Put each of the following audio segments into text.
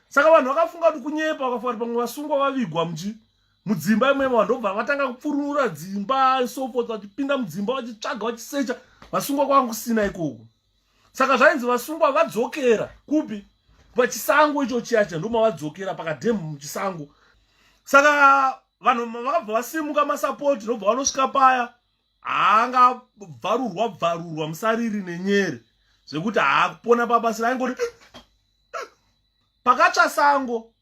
saka vanhu vakafunga kuti kunyepa vakafunga kuti pamwe vasungwa vavigwa mji mudzimba imwemo vanhu ndobva vatanga kupfurunura dzimba sofo vachipinda mudzimba vachitsvaga vachisecha vasungwa kwanga kusina ikoko saka zvainzi vasungwa vadzokera kupi pachisango icho chiyacha ndomavadzokera pakadhemu muchisango saka vanhu vakabva vasimuka masapoti ndobva vanosvika paya haangabvarurwa bvarurwa musariri nenyere zvekuti haakupona pabasi raingoti pakatsva sango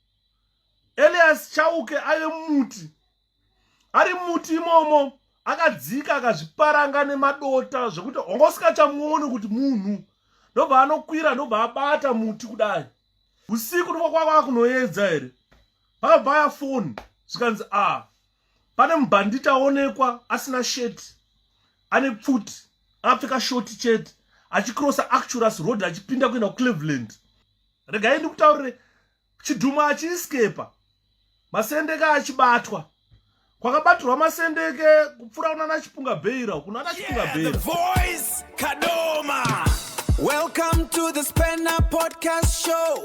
elias chauke ave muti ari muti imomo akadzika akazviparanga nemadota zvekuti honga usikachamuoni kuti munhu ndobva anokwira ndobva abata muti kudai usiku ndokwa kwava kunoedza here pakabva ya foni zvikanzi a ah, pane mubhanditi aonekwa asina shirt ane pfuti akapfeka shoti chete achicrossa acturus road achipinda kuenda kucleveland regai ndikutaurire chidhuma achiiskepa masendeke achibatwa kwakabatirwa masendeke kupfuura kunana chipunga bheira uku nana chipunga bheira Welcome to the Spanner Podcast Show.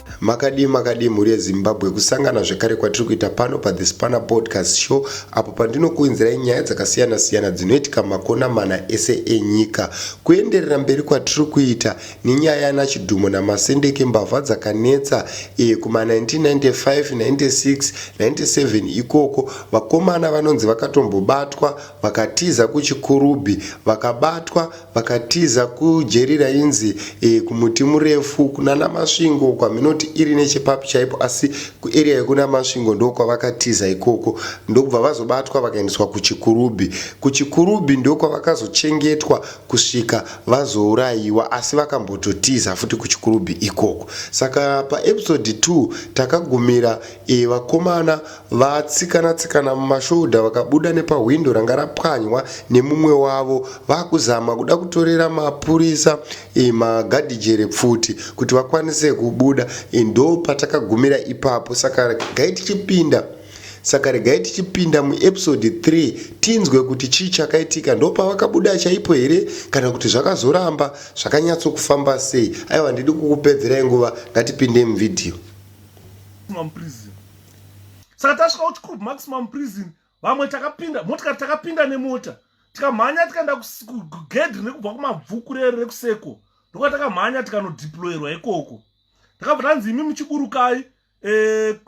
Makadii makadii mhuri yeZimbabwe kusangana zvekare kwatiri kuita pano paThe Spanner Podcast Show apo pandinokuinzirai nyaya dzakasiyana siyana dzinoitika makona mana ese enyika. Kuenderera mberi kwatiri kuita nenyaya yana Chidhumo naMasendeke mbavha dzakanetsa e, kuma 1995, 96, 97 ikoko vakomana vanonzi vakatombobatwa vakatiza kuChikurubhi vakabatwa Vakatiza kujeri rainzi e, kumuti murefu kunana Masvingo kwaMhinoti iri nechepapi chaipo asi kuarea yekuna Masvingo ndokwavakatiza ikoko ndokubva vazobatwa vakaendeswa kuChikurubhi. KuChikurubhi ndokwavakazochengetwa kusvika vazouraiwa asi vakambototiza futi kuChikurubhi ikoko. Saka paepisode 2 takagumira e, vakomana Vatsikana-tsikana mumashoulder vakabuda nepahwindo ranga rapwanywa nemumwe wavo vakuzama kuda kutorera mapurisa eh, magadhijere pfuti kuti vakwanise kubuda eh, ndo patakagumira ipapo saka regai tichipinda saka regai tichipinda muepisode 3 tinzwe kuti chii chakaitika ndopavakabuda chaipo here kana kuti zvakazoramba zvakanyatsokufamba sei aiwa ndidi kukupedzerai nguva ngatipinde muvhidhiyo saka tasvika kuti kub maximum prison vamwe takapinda motikari takapinda nemota tikamhanya tikaenda kugedhi rekubva kumabvuku rere rekuseko ndokuva takamhanya tikanodiployerwa ikoko takabva tanzi imi muchiburukai eh,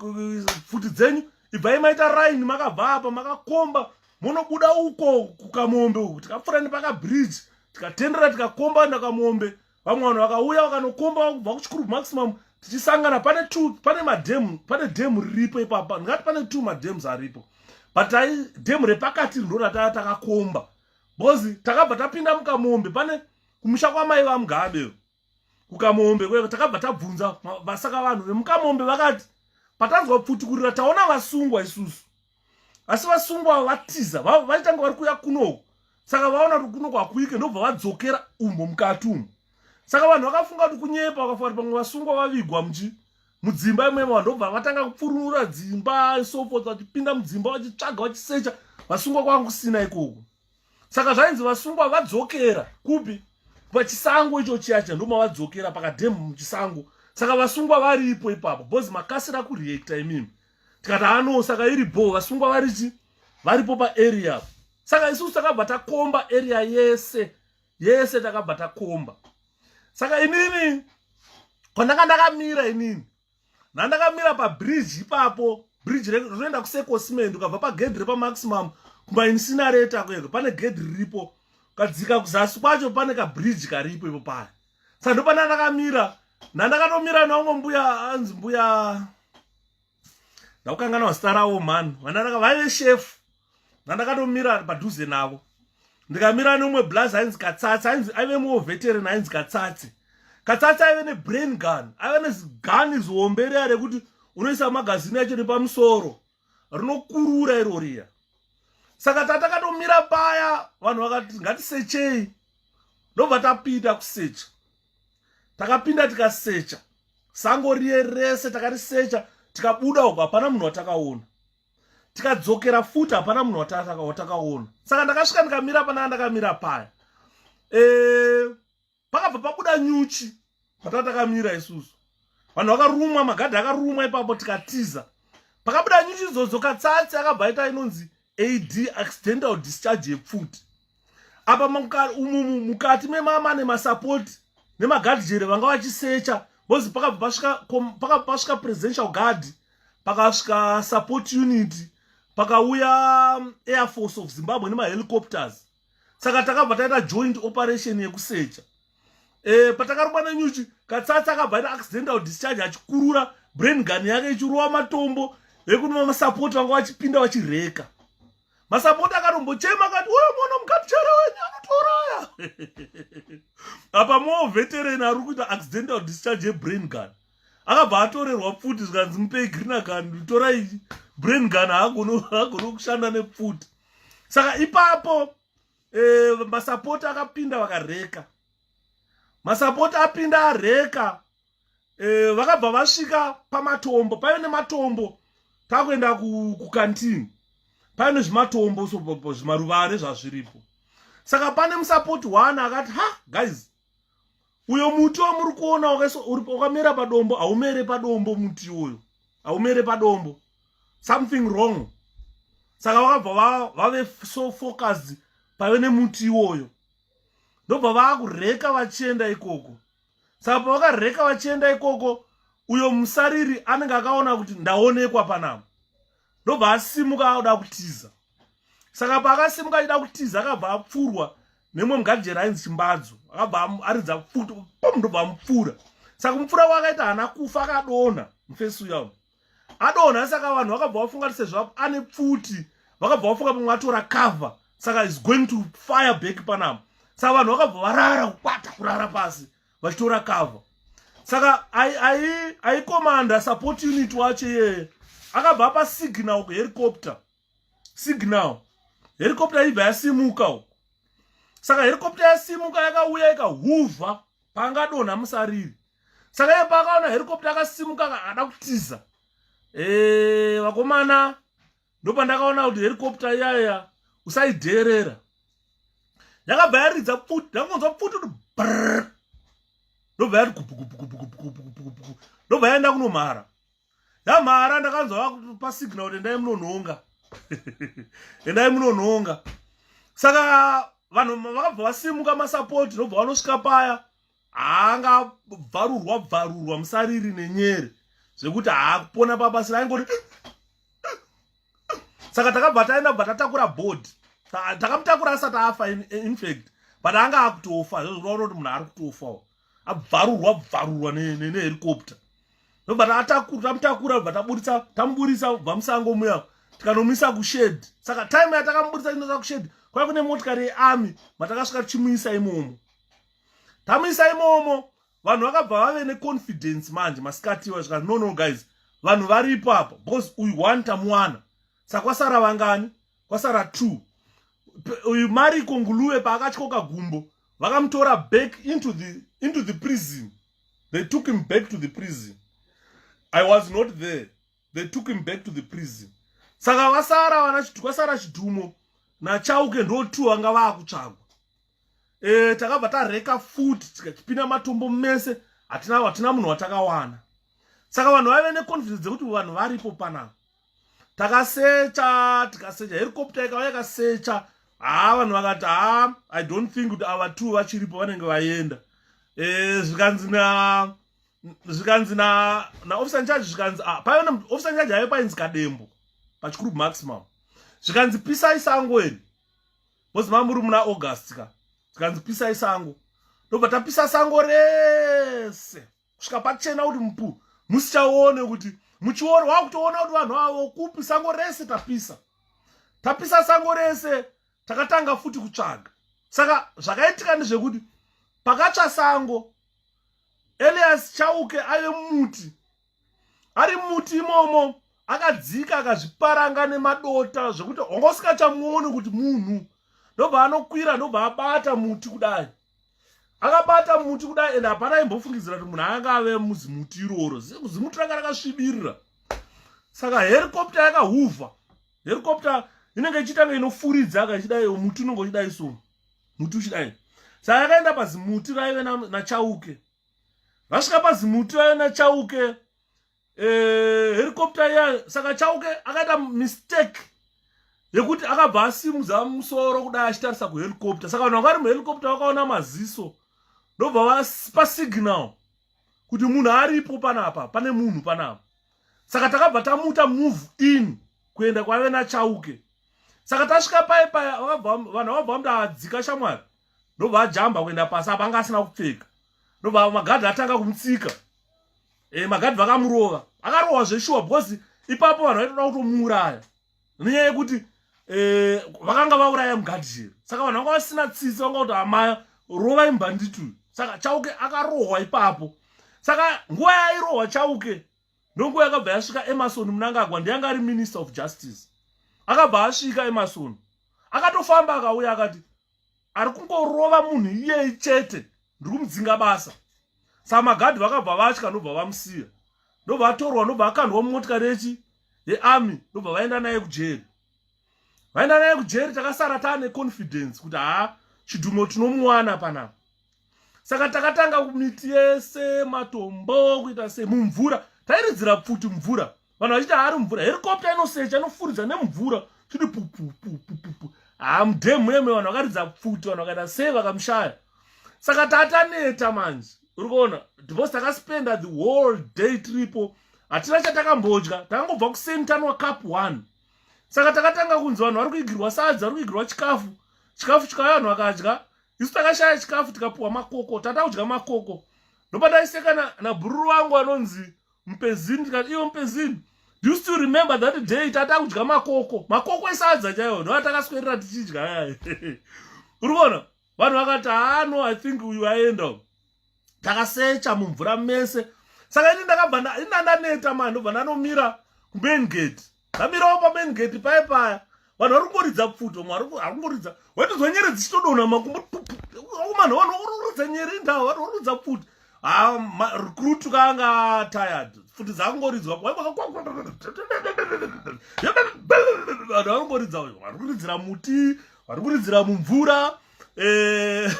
pfuti dzenyu ibvai maita raini makabva apa makakomba monobuda uko kukamombe uku tikapfuura nepakabridge tikatendera tikakomba nakamombe vamwe vanhu vakauya vakanokomba kubva kuchikuru maximum tichisangana pane two pane madam pane dam riripo ipapa ndingati pane two madams aripo but ai dam repakati ndo rataa takakomba bozi takabva tapinda mukamombe pane kumusha kwamai vamugabe kukamombe kweko takabva tabvunza vasaka vanhu vemukamombe vakati patanzwa pfuti kurira taona vasungwa isusu asi vasungwa avo vatiza vaitanga vari kuya kunoku saka vaona kuti kunoku hakuike ndobva vadzokera umo mukati umo saka vanhu vakafunga kuti kunyepa vakafunga kuti pamwe vasungwa vavigwa muchi mudzimba imwemo vanhu ndobva vatanga kupfurunura dzimba sofot vachipinda mudzimba vachitsvaga vachisecha vasungwa kwanga kusina ikoko saka zvainzi vasungwa vadzokera kupi pachisango icho chiyacha ndomavadzokera pakadhemu muchisango saka vasungwa varipo ipapo bcoz makasira kureacta imimi tikati ano saka iri bho vasungwa varichi varipo paarea saka isusu takabva takomba area yese yese takabva takomba saka inini kwandanga ndakamira inini nandakamira pabridge ipapo bridge rinoenda kusecosimend ukabva pagedhi repamaximum kumainsinareta kueko pane gedhi riripo ukadzika kuzasi kwacho pane kabridge karipo ipo paya saka ndopana ndakamira ndandakatomira navo mbuya anzi mbuya ndakukangana wazita ravo mhani vandandaka vaive shefu ndandakatomira padhuze navo ndikamira neumwe blazi ainzi katsatsi ainzi aive muwo veteran ainzi katsatsi katsatsi aive nebrain gun aive nezigun zihombe riya rekuti unoisa magazini yacho nepamusoro rinokurura iro riya saka tatakatomira paya vanhu vakati ngatisechei ndobva tapinda kusecha takapinda tikasecha sango riye rese takarisecha tikabuda uko hapana munhu watakaona tikadzokera futi hapana munhu watakaona saka ndakasvika ndikamira panaa ndakamira paya e, pakabva pabuda nyuchi patava takamira isusu vanhu vakarumwa magadhi akarumwa ipapo tikatiza pakabuda nyuchi idzodzo katsatsi akabva aita inonzi ad accidental discharge yepfuti apa umumu mukati memama nemasapoti nemagadhi jere vanga vachisecha bozi pakabva pasvika presidential guard pakasvika support unit pakauya um, air force of zimbabwe nemahelicopters saka takabva taita joint operation yekusecha e, patakarumba nenyuchi katsatsi akabva aita accidental discharge achikurura brain gun yake ichirova matombo ekunova masapoti vanga vachipinda vachireka masapoti akatombochema akati uyo mwana mukatichera wenyu anotoraya apa moo veteran ari kuita accidental discharge yebrain gun akabva atorerwa pfuti zvikanzi mupei green gun torai brain gun haagone kushanda nepfuti saka ipapo eh, masapoti akapinda vakareka masapoti apinda areka eh, vakabva vasvika pamatombo paive nematombo takuenda kukantini paive nezvimatombo zvimaruvare zvazviripo saka pane musapoti one akati ha guys uyo muti wamuri kuona wakamera padombo haumere padombo muti uyo haumere padombo something wrong saka vakabva vave so focused pave nemuti iwoyo ndobva vaakureka vachienda ikoko saka pavakareka vachienda ikoko uyo musariri anenge akaona kuti ndaonekwa panapa ndobva asimuka akuda kutiza saka paakasimuka achida kutiza akabva apfurwa nemwe mugajera ainzi chimbadzo akabva aridza pfuti pam ndobva amupfura saka kumupfura kwaakaita hana kufa akadonha mufesi uya adonha saka vanhu vakabva vafunga kuti sezvo ane pfuti vakabva vafunga pamwe atora cover saka is going to fire back panapa saka vanhu vakabva varara kukwata kurara pasi vachitora cover saka aikomanda support unit wacho iyeye akabva apa signal kuhelicopter signal helicopter ibva yasimuka uko saka helicopter yasimuka yakauya ikahuvha pangadonha musariri saka iye paakaona helicopter akasimuka akada kutiza eh, vakomana ndopandakaona kuti helicopter iyaya usaidheerera yakabva yaridza pfuti ndakungonzwa pfuti kuti brr ndobva yati kupukupukupukupukupukupuku ndobva yaenda kunomhara yamhara ndakanzwa vakupa signal kuti endai munonhonga endai munonhonga saka vanhu vakabva vasimuka masapoti nobva vanosvika paya haangabvarurwa bvarurwa musariri nenyere zvekuti haakupona pabasi raingoti saka takabva taenda bva tatakura body takamutakura asati afa infact but anga akutofa zvezvinoona kuti munhu ari kutofawo abvarurwa bvarurwa nehelicopta ndobva tamutakura bva taburitsa tamuburitsa bva musango muya tikanomisa kushed saka time yatakamuburitsa inosa kushed kwai kune motikari yearmy matakasvika tichimuisa imomo tamuisa imomo vanhu vakabva vave neconfidence manje masikati vasvika no no guys vanhu varipo apa because uyu one tamuwana saka kwasara vangani kwasara two uyu mariko nguluve paakatyoka gumbo vakamutora back into the, into the prison they took him back to the prison i was not there they took him back to the prison saka vasara vana kwasara chidhumo nachauke ndo two vanga vakutsvagwa e, eh, takabva tareka futi tikachipinda matombo mese hatina munhu watakawana saka vanhu vaive neconfidence dzekuti vanhu varipo panapa takasecha tikasecha helicopter ikava yakasecha haa vanhu vakati haa i don't think kuti ava two vachiripo vanenge vaenda eh, zvikanzi na zvikanzi na na officer charge zvikanzi ah, paive na officer charge haive painzi kadembo pachikuru maximum zvikanzi pisai sango eni bcoz mamuri muna august ka zvikanzi pisai sango ndobva tapisa sango rese kusvika pachena kuti mupu musichaone kuti muchioro wakutoona kuti vanhu avo kupi sango rese tapisa tapisa sango rese takatanga futi kutsvaga saka zvakaitika ndezvekuti pakatsva sango elias chauke ave muti ari muti imomo akadzika akazviparanga nemadota zvekuti honga usikachamuoni kuti munhu ndobva anokwira ndobva abata muti kudai akabata muti kudai ende hapana aimbofungidzira kuti munhu anga ave muzimuti iroro zimuti ranga rakasvibirira saka herikopta yakahuvha herikopta inenge ichitanga inofuridza kachidai muti unenge uchidai so muti uchidai saka yakaenda pazimuti raive nachauke vasvika pazimuti raive nachauke eh, helicopter iya saka chauke akaita mistake yekuti akabva asimudza musoro kudai achitarisa kuhelicopter saka vanhu vakari muhelicopter vakaona maziso ndobva vapa signal kuti munhu aripo panapa pane munhu panapa saka takabva tamuta move in kuenda kwave nachauke saka tasvika paye paya vanhu vakabva vamuta adzika shamwari ndobva ajamba kuenda pasi apa anga asina kupfeka ndobva magadhi atanga kumutsika e, magadhi vakamurova akarohwa zveshuwa because ipapo vanhu vaitoda kutomuuraya nenyaya yekuti e, vakanga vauraya mugadhi here saka vanhu vanga vasina tsitsi vanga kuti amaya rovai mbhandituyu saka chauke akarohwa ipapo saka nguva yairohwa chauke ndonguva yakabva yasvika emarson munangagwa ndiyanga ari minister of justice akabva asvika emarson akatofamba akauya akati ari kungorova munhu iyeye chete ndiri kumudzinga basa saka magadhi vakabva vatya ndobva vamusiya ndobva atorwa ndobva akandwa mumotikari yechi yearmy ndobva vaenda naye kujeri vaenda naye kujeri takasara taane confidence kuti haa chidhumo tinomuwana panapa saka takatanga kumiti yese matombo kuita se mumvura tairidzira pfuti mvura vanhu vachiti haari mvura herikopta inosecha inofuridza nemvura chiti pupupupupupu hamudemhemhe vanhu vakaridza pfuti vanhu vakaita sei vakamushaya saka tataneta manje uri kuona because takaspenda the whole day tripo hatina chatakambodya takangobva kuseni tanwa cup one saka takatanga kunzi vanhu vari kuigirwa sadza vari kuigirwa chikafu chikafu chikauya vanhu vakadya isu takashaya chikafu tikapuwa makoko tata kudya makoko ndopataiseka nabhururu na vangu anonzi mpezini ndikati iwe mpezini do you still remember that day tata kudya makoko makoko esadza chaiwo ndoa takaswerera tichidya ayaye uri kuona vanhu vakati hano ah, i think uyu aenda takasecha mumvura mese saka ini ndakabva ini ndandaneta mani ndobva ndanomira kumain gate vamirawo pamain gate paye paya vanhu vari kungoridza pfuto mwari ari kungoridza waitozwa nyere dzichitodonha makumbo akomana vanhu vakurorodza nyere indawa vanhu vakurorodza pfuti recruit kaanga tired pfuti dzakungoridzwa vanhu vakungoridza vari kuridzira muti vari kuridzira mumvura eh,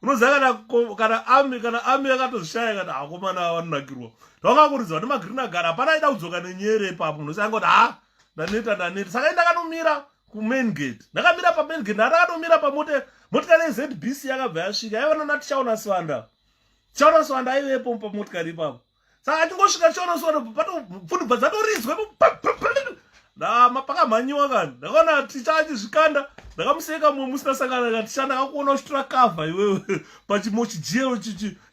unoziva kana kana ami kana ami yakatozvishaya kana akomana ah, vanonakirwa ndakakuridzwa nemagreen agara hapana aida kudzoka nenyere ipapo munhu sangoti ha ah, ndaneta ndaneta saka i ndakanomira kumain gate ndakamira pamain gate ndandakanomira pamote motikari yezbc yakabva yasvika yaiva nana tichaona swanda tichaona swanda aivepo pamotikari ipapo saka achingosvika chiona sona pfuni bva dzatorizwe ndama pakamhanyiwa kani ndakaona ticha achizvikanda ndakamuseka mumwe musina sangana ka ticha ndakakuona uchitora kavha iwewe pachimo chijero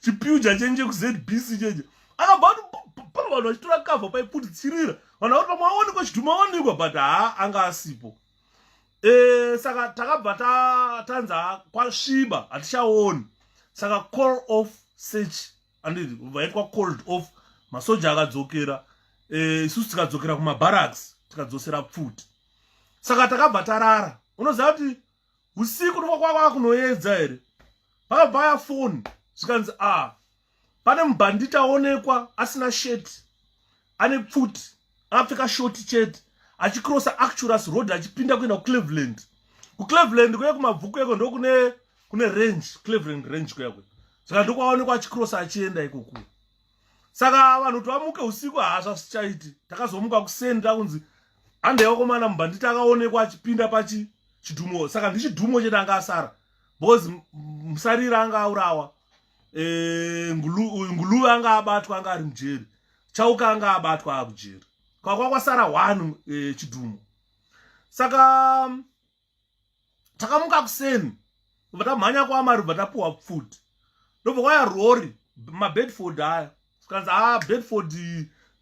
chipiuja chenje kuzbc chenje akabva ati pano vanhu vachitora kavha paiputitsirira vanhu vakuti pamwe aonekwa chidhuma aonekwa but haa anga asipo e, saka takabva tanza kwasviba hatichaoni saka call off search anditi vaitwa cold off masoja akadzokera eh, isusu tikadzokera kumabaraks tikadzosera pfuti saka takabva tarara unoziva kuti usiku ndokwakwakwa kunoedza here vakabvaya foni zvikanzi a ah, pane mubhanditi aonekwa asina sheti ane pfuti akapfeka shoti chete achicrossa acturus road achipinda kuenda kucleveland kucleveland kuye kumabvuku yeko ndokune kune range cleveland range kuyakwe saka ndokwaonekwa achicrossa achienda ikoku saka vanhu kuti vamuke usiku hazva zvichaiti takazomuka kuseni takunzi handei wakomana mubhanditi akaonekwa achipinda pachi chidhumo saka ndichidhumo chete anga asara because musarira anga aurawa e, nguluve anga abatwa anga ari mujeri chauka anga abatwa akujeri kwakwa kwasara one e, chidhumo saka takamuka kuseni kubva tamhanya kwaamari kubva tapiwa food ndobva kwaya rori mabedford aya tikanzi a ah, bedford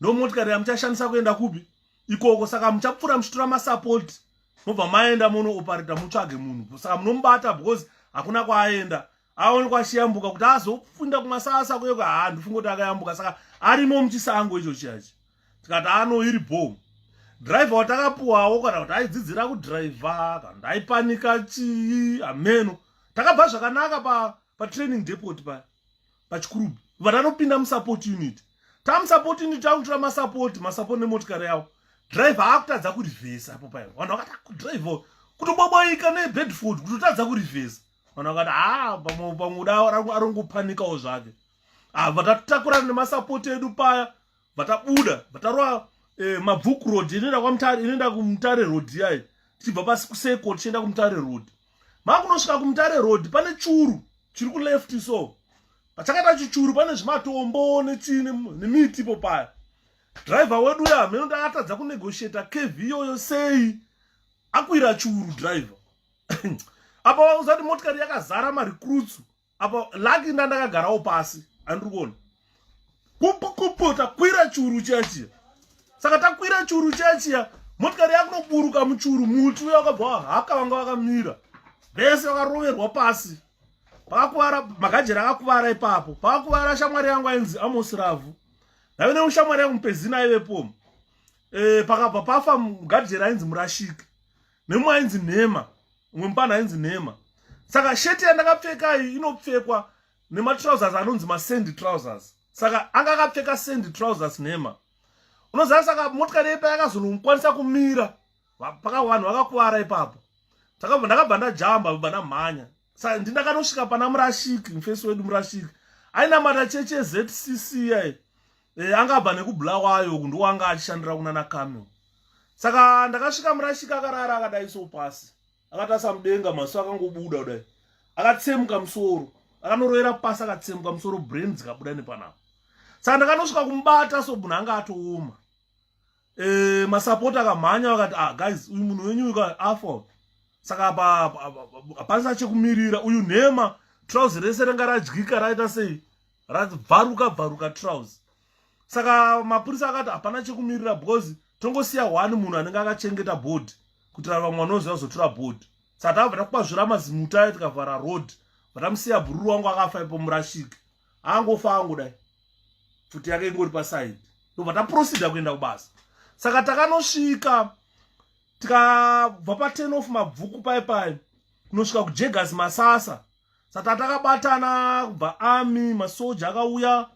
ndomotikari yamuchashandisa kuenda kupi ikoko saka muchapfuura muchitora masupport mobva maenda monoopareta mutsvage munhu saka munomubata because hakuna kwaaenda aone kwachiyambuka kuti azofunda kumasasa kuye haa ndofunga kuti akayambuka saka arimo muchisango icho chiyachi tikati ano iri bho driver watakapuwawo kana kuti aidzidzira kudriver kana kuti aipanika chii hameno takabva zvakanaka pa patraining depot paya pachikurubi vatanopinda musupport unit tamusupport unit takutora masupport masupport nemotikari yavo driver akutadza kurivhesa apo paya vanhu vakata driver kutoboboika nebedford kutotadza kurivhesa vanhu vakati haa ah, pamwe pamwe uda arongopanikawo zvake ah, vatatakurana nemasapoti edu paya vatabuda vatarova eh, mabvuku road inoenda kwamutare inoenda kumutare road yayi tichibva pasi kuseko tichienda kumutare road makunosvika kumutare road pane churu chiri kuleft so pachakaita chichuru pane zvimatombo nechii nemiti ipo paya driver wedu uya hameno ndaatadza kunegotiata kv yoyo sei akwira churu driver apa usati motikari yakazara marecruits apa lucky nda ndakagarawo pasi andiri kuona kupu kupu takwira churu chiya chiya saka takwira churu chiya chiya motikari yakunoburuka muchuru muti uya wakabva wahaka vanga vakamira vese vakaroverwa pasi pakakuvara magajera akakuvara ipapo pakakuvara shamwari yangu ainzi amosi ravhu ndave neushamwari yangu mupezina aivepo e, pakabva pafa mugajera ainzi murashiki nemumwe ainzi nhema umwe mupana ainzi nhema saka sheti yandakapfeka iyi inopfekwa nematrousers anonzi masandy trousers saka anga akapfeka sandy trousers nhema unoziva saka motikari yepa yakazonokwanisa kumira paka vanhu vakakuvara ipapo ndakabva ndajamba bva ndamhanya sa ndindakanosvika pana murashiki mufesi wedu murashiki ainamata cheche zcc yai e, angabva nekubla wayo uku ndowanga achishandira kunana camel saka ndakasvika murashiki akarara akadai so pasi akatasa mudenga maso akangobuda kudai akatsemuka musoro akanoroera pasi akatsemuka musoro brain dzikabuda nepanapa saka ndakanosvika kumubata so munhu anga atooma eh masapota akamhanya vakati ah guys uyu munhu wenyu uka afa saka apa hapasina chekumirira uyu nhema trouse rese ranga radyika raita sei rabvaruka bvaruka trouse saka mapurisa akati hapana chekumirira because tongosiya one munhu anenge akachengeta board kuitira vamwe vanoziva kuzotura board saka takabva takupa zvira mazimuta ayo tikavhara road vatamusiya bhururu wangu akafa ipo murashiki angofa angu dai pfuti yake ingori paside ndobva taprosida kuenda kubasa saka takanosvika tikabva paten of mabvuku pai pai kunosvika kujegas masasa saka takabatana kubva army masoja akauya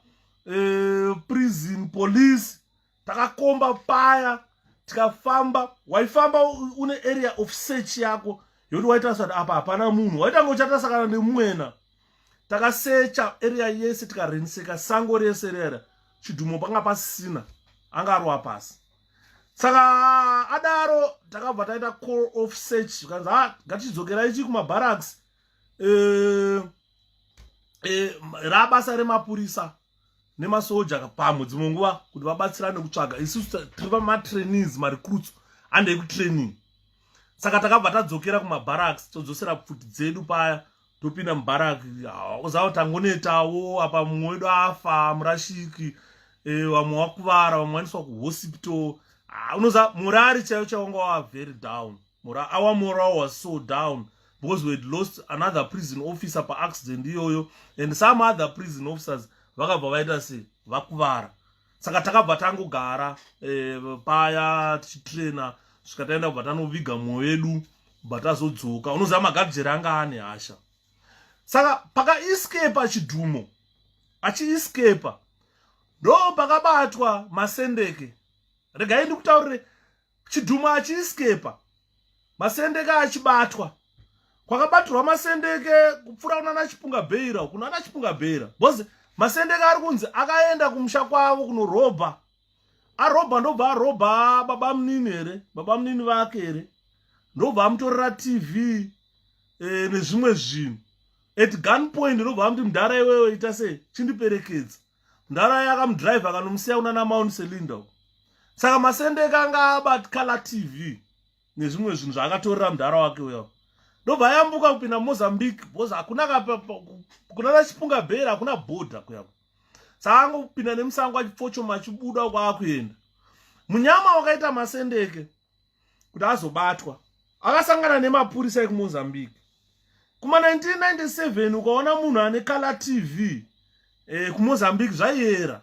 eh, prison police takakomba paya tikafamba waifamba une area of search yako yoti waitarisa kuti apa hapana munhu waitanga uchatarisa kana nemwena takasecha area yese tikarenseka sango rese rera chidhumo panga pasina anga arova pasi saka adaro takabva taita call of search zvikanzi ha ah, ngatichidzokera ichi kumabaraks eh, eh, rabasa remapurisa nemasoja pamwe dzimwe nguva kuti vabatsirane kutsvaga isusu tiri vamatrainees marecruits handei kutraining saka takabva tadzokera kumabaraks todzosera pfuti dzedu paya topinda mubarak uzava tangonetawo apa mumwe wedu afa murashiki e, vamwe wakuvara vamwe waniswa kuhospital ah, unoza murari chaiyo chaunga wava very down mura our moral was so down because we had lost another prison officer paaccident iyoyo and some other prison officers vakabva vaita se vakuvara saka takabva tangogara eh, paya tichitraina svika taenda kubva tanoviga mwoyo yedu bva tazodzoka unoziva magabjeri anga ane hasha saka pakaescapa chidhumo achiescapa ndo pakabatwa masendeke regai ndikutaurire chidhumu achiiskepa masendeke achibatwa kwakabatirwa masendeke kupfuura kunana chipunga bheira kunana chipunga bheira bcause masendeke ari kunzi akaenda kumusha kwavo kunorobha arobha ndobva arobha baba munini here baba munini vake here ndobva amutorera tv e, nezvimwe zvinhu at gun point ndobva amuti mdhara iwewe ita sei chindiperekedza ndaraya akamudrive akanomusiya kuna namount cylinder saka masendeka anga abatkala tv nezvimwe zvinhu zvaakatorera mudhara wake uya ndobva ayambuka kupinda mozambique bcause hakuna kunana chipunga bhera hakuna bhodha kuyako saka angopinda nemusango achipfochoma achibuda kwaakuenda munyama wakaita masendeke kuti azobatwa akasangana nemapurisa ekumozambique kuma 1997 ukaona munhu ane kala tv eh, kumozambique zvaiera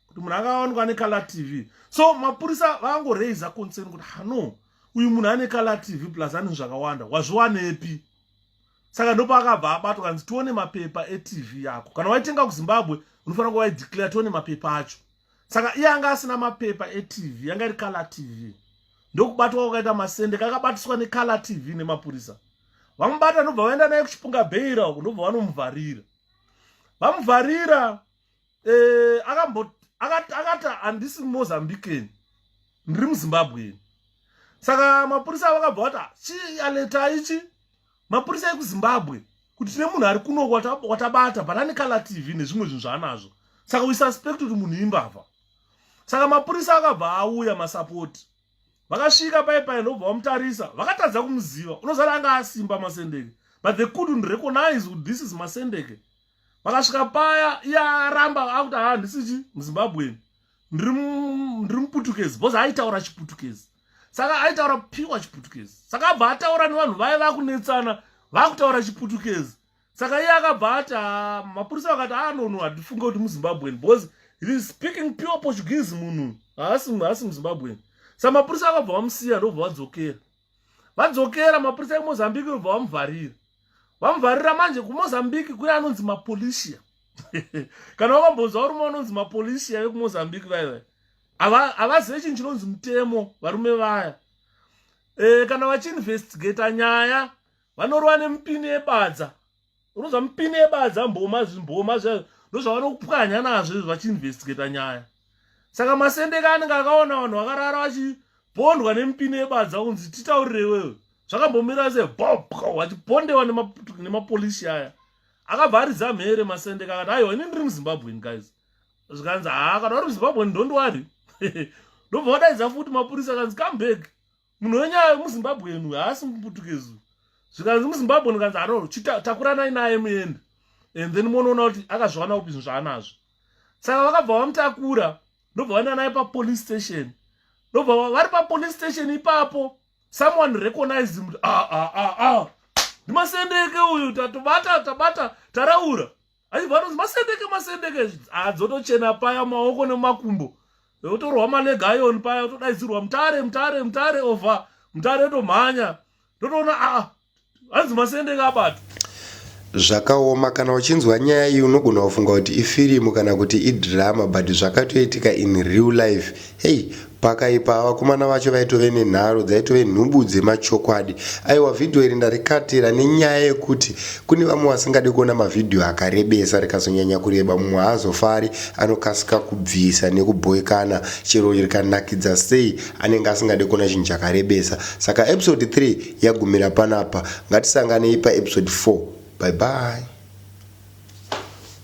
kuti munhu akawanikwa ane kala tv so mapurisa vakangoreiza concern kuti hano uyu munhu ane kala tv plus ane zvakawanda wazviwanepi saka ndopaakabva abatwa kanzi tione mapepa etv yako kana waitenga kuzimbabwe unofanira kuva waideclare tione mapepa acho saka iye anga asina mapepa etv yanga iri color tv ndokubatwa kwakaita masende kakabatiswa necolor tv nemapurisa vamubata ndobva vaenda naye kuchipunga bheira uku ndobva vanomuvharira vamuvharira eh, akati handisi mozambicani ndiri muzimbabweni saka mapurisa vakabva vati ah, chii aleta ichi mapurisa ekuzimbabwe kuti tine munhu ari kuno watabata but ane color tv nezvimwe zvinhu zvaanazvo saka we suspect kuti munhu imbavha saka mapurisa akabva auya masapoti vakasvika pai pai ndobva vamutarisa vakatadza kumuziva unozara anga asimba masendeke but they couldn't recognize kuti this is masendeke vakasvika paya iye aramba akuti handisichi muzimbabweni ndiri muputukezi bhozi aitaura chiputukezi saka aitaura piwa chiputukezi saka abva ataura nevanhu vaye vakunetsana vakutaura chiputukezi saka iye akabva ati ah, mapurisa vakati anono ah, handifunga kuti muzimbabwen bhozi he is speaking pure portuguese munhu haasi muzimbabwen sa mapurisa akabva vamusiya ndobva vadzokera vadzokera mapurisa emozambique vobva vamuvharira vamuvharira manje kumozambique kune anonzi mapolisia kana wakambonzwa varume vanonzi mapolisia vekumozambique vaiva havazive chinhu chinonzi mutemo varume vaya e, kana vachiinvestigata nyaya vanorova nemipini yebadza unoza mipini yebadza mboma zvimboma zvayo ndozvavanokupwanya nazvo izvi vachiinvestigata nyaya saka masendeka anenge akaona vanhu vakarara vachibondwa nemipini yebadza kunzi titaurire iwewe zvakambomira se bob wachipondewa nemapolisi aya akabva aridza mhere masendeka akati aiwa ini ndiri muzimbabwen guys zvikanzi haa kana vari muzimbabwen ndondiwari ndobva vadaidza futi mapurisa akanzi come back munhu wenyaya muzimbabwe enu haasi muputukezu zvikanzi muzimbabwe ndikanzi aroro chitakuranai naye muende and then monoona kuti akazviwana kupi zvinhu zvaanazvo saka vakabva vamutakura ndobva vaenda naye papolice station ndobva vari papolice station ipapo someone recognized him ah, ah, ah, ah. ndimasendeke uyu tatobata tabata taraura achibva atonzi masendeke masendeke adzotochena ah, paya maoko nemakumbo otorwa maleg ion paya otodaidzirwa mutare mutare mutare over mutare otomhanya totoona aa ah, hanzi masendeke abata zvakaoma kana uchinzwa nyaya iyi unogona kufunga kuti ifirimu kana kuti idhirama but zvakatoitika in real life hei Pakaipa vakomana vacho vaitove nenharo dzaitove nhubu dzemachokwadi. Aiwa vhidhiyo iri ndarikatira nenyaya yekuti kune vamwe vasingade kuona mavhidhiyo akarebesa rikazonyanya kureba mumwe haazofari anokasika kubvisa nekubhoikana chero rikanakidza sei anenge asingade kuona chinhu chakarebesa. Saka episode 3 yagumira panapa ngatisanganei paepisode 4. Bye bye.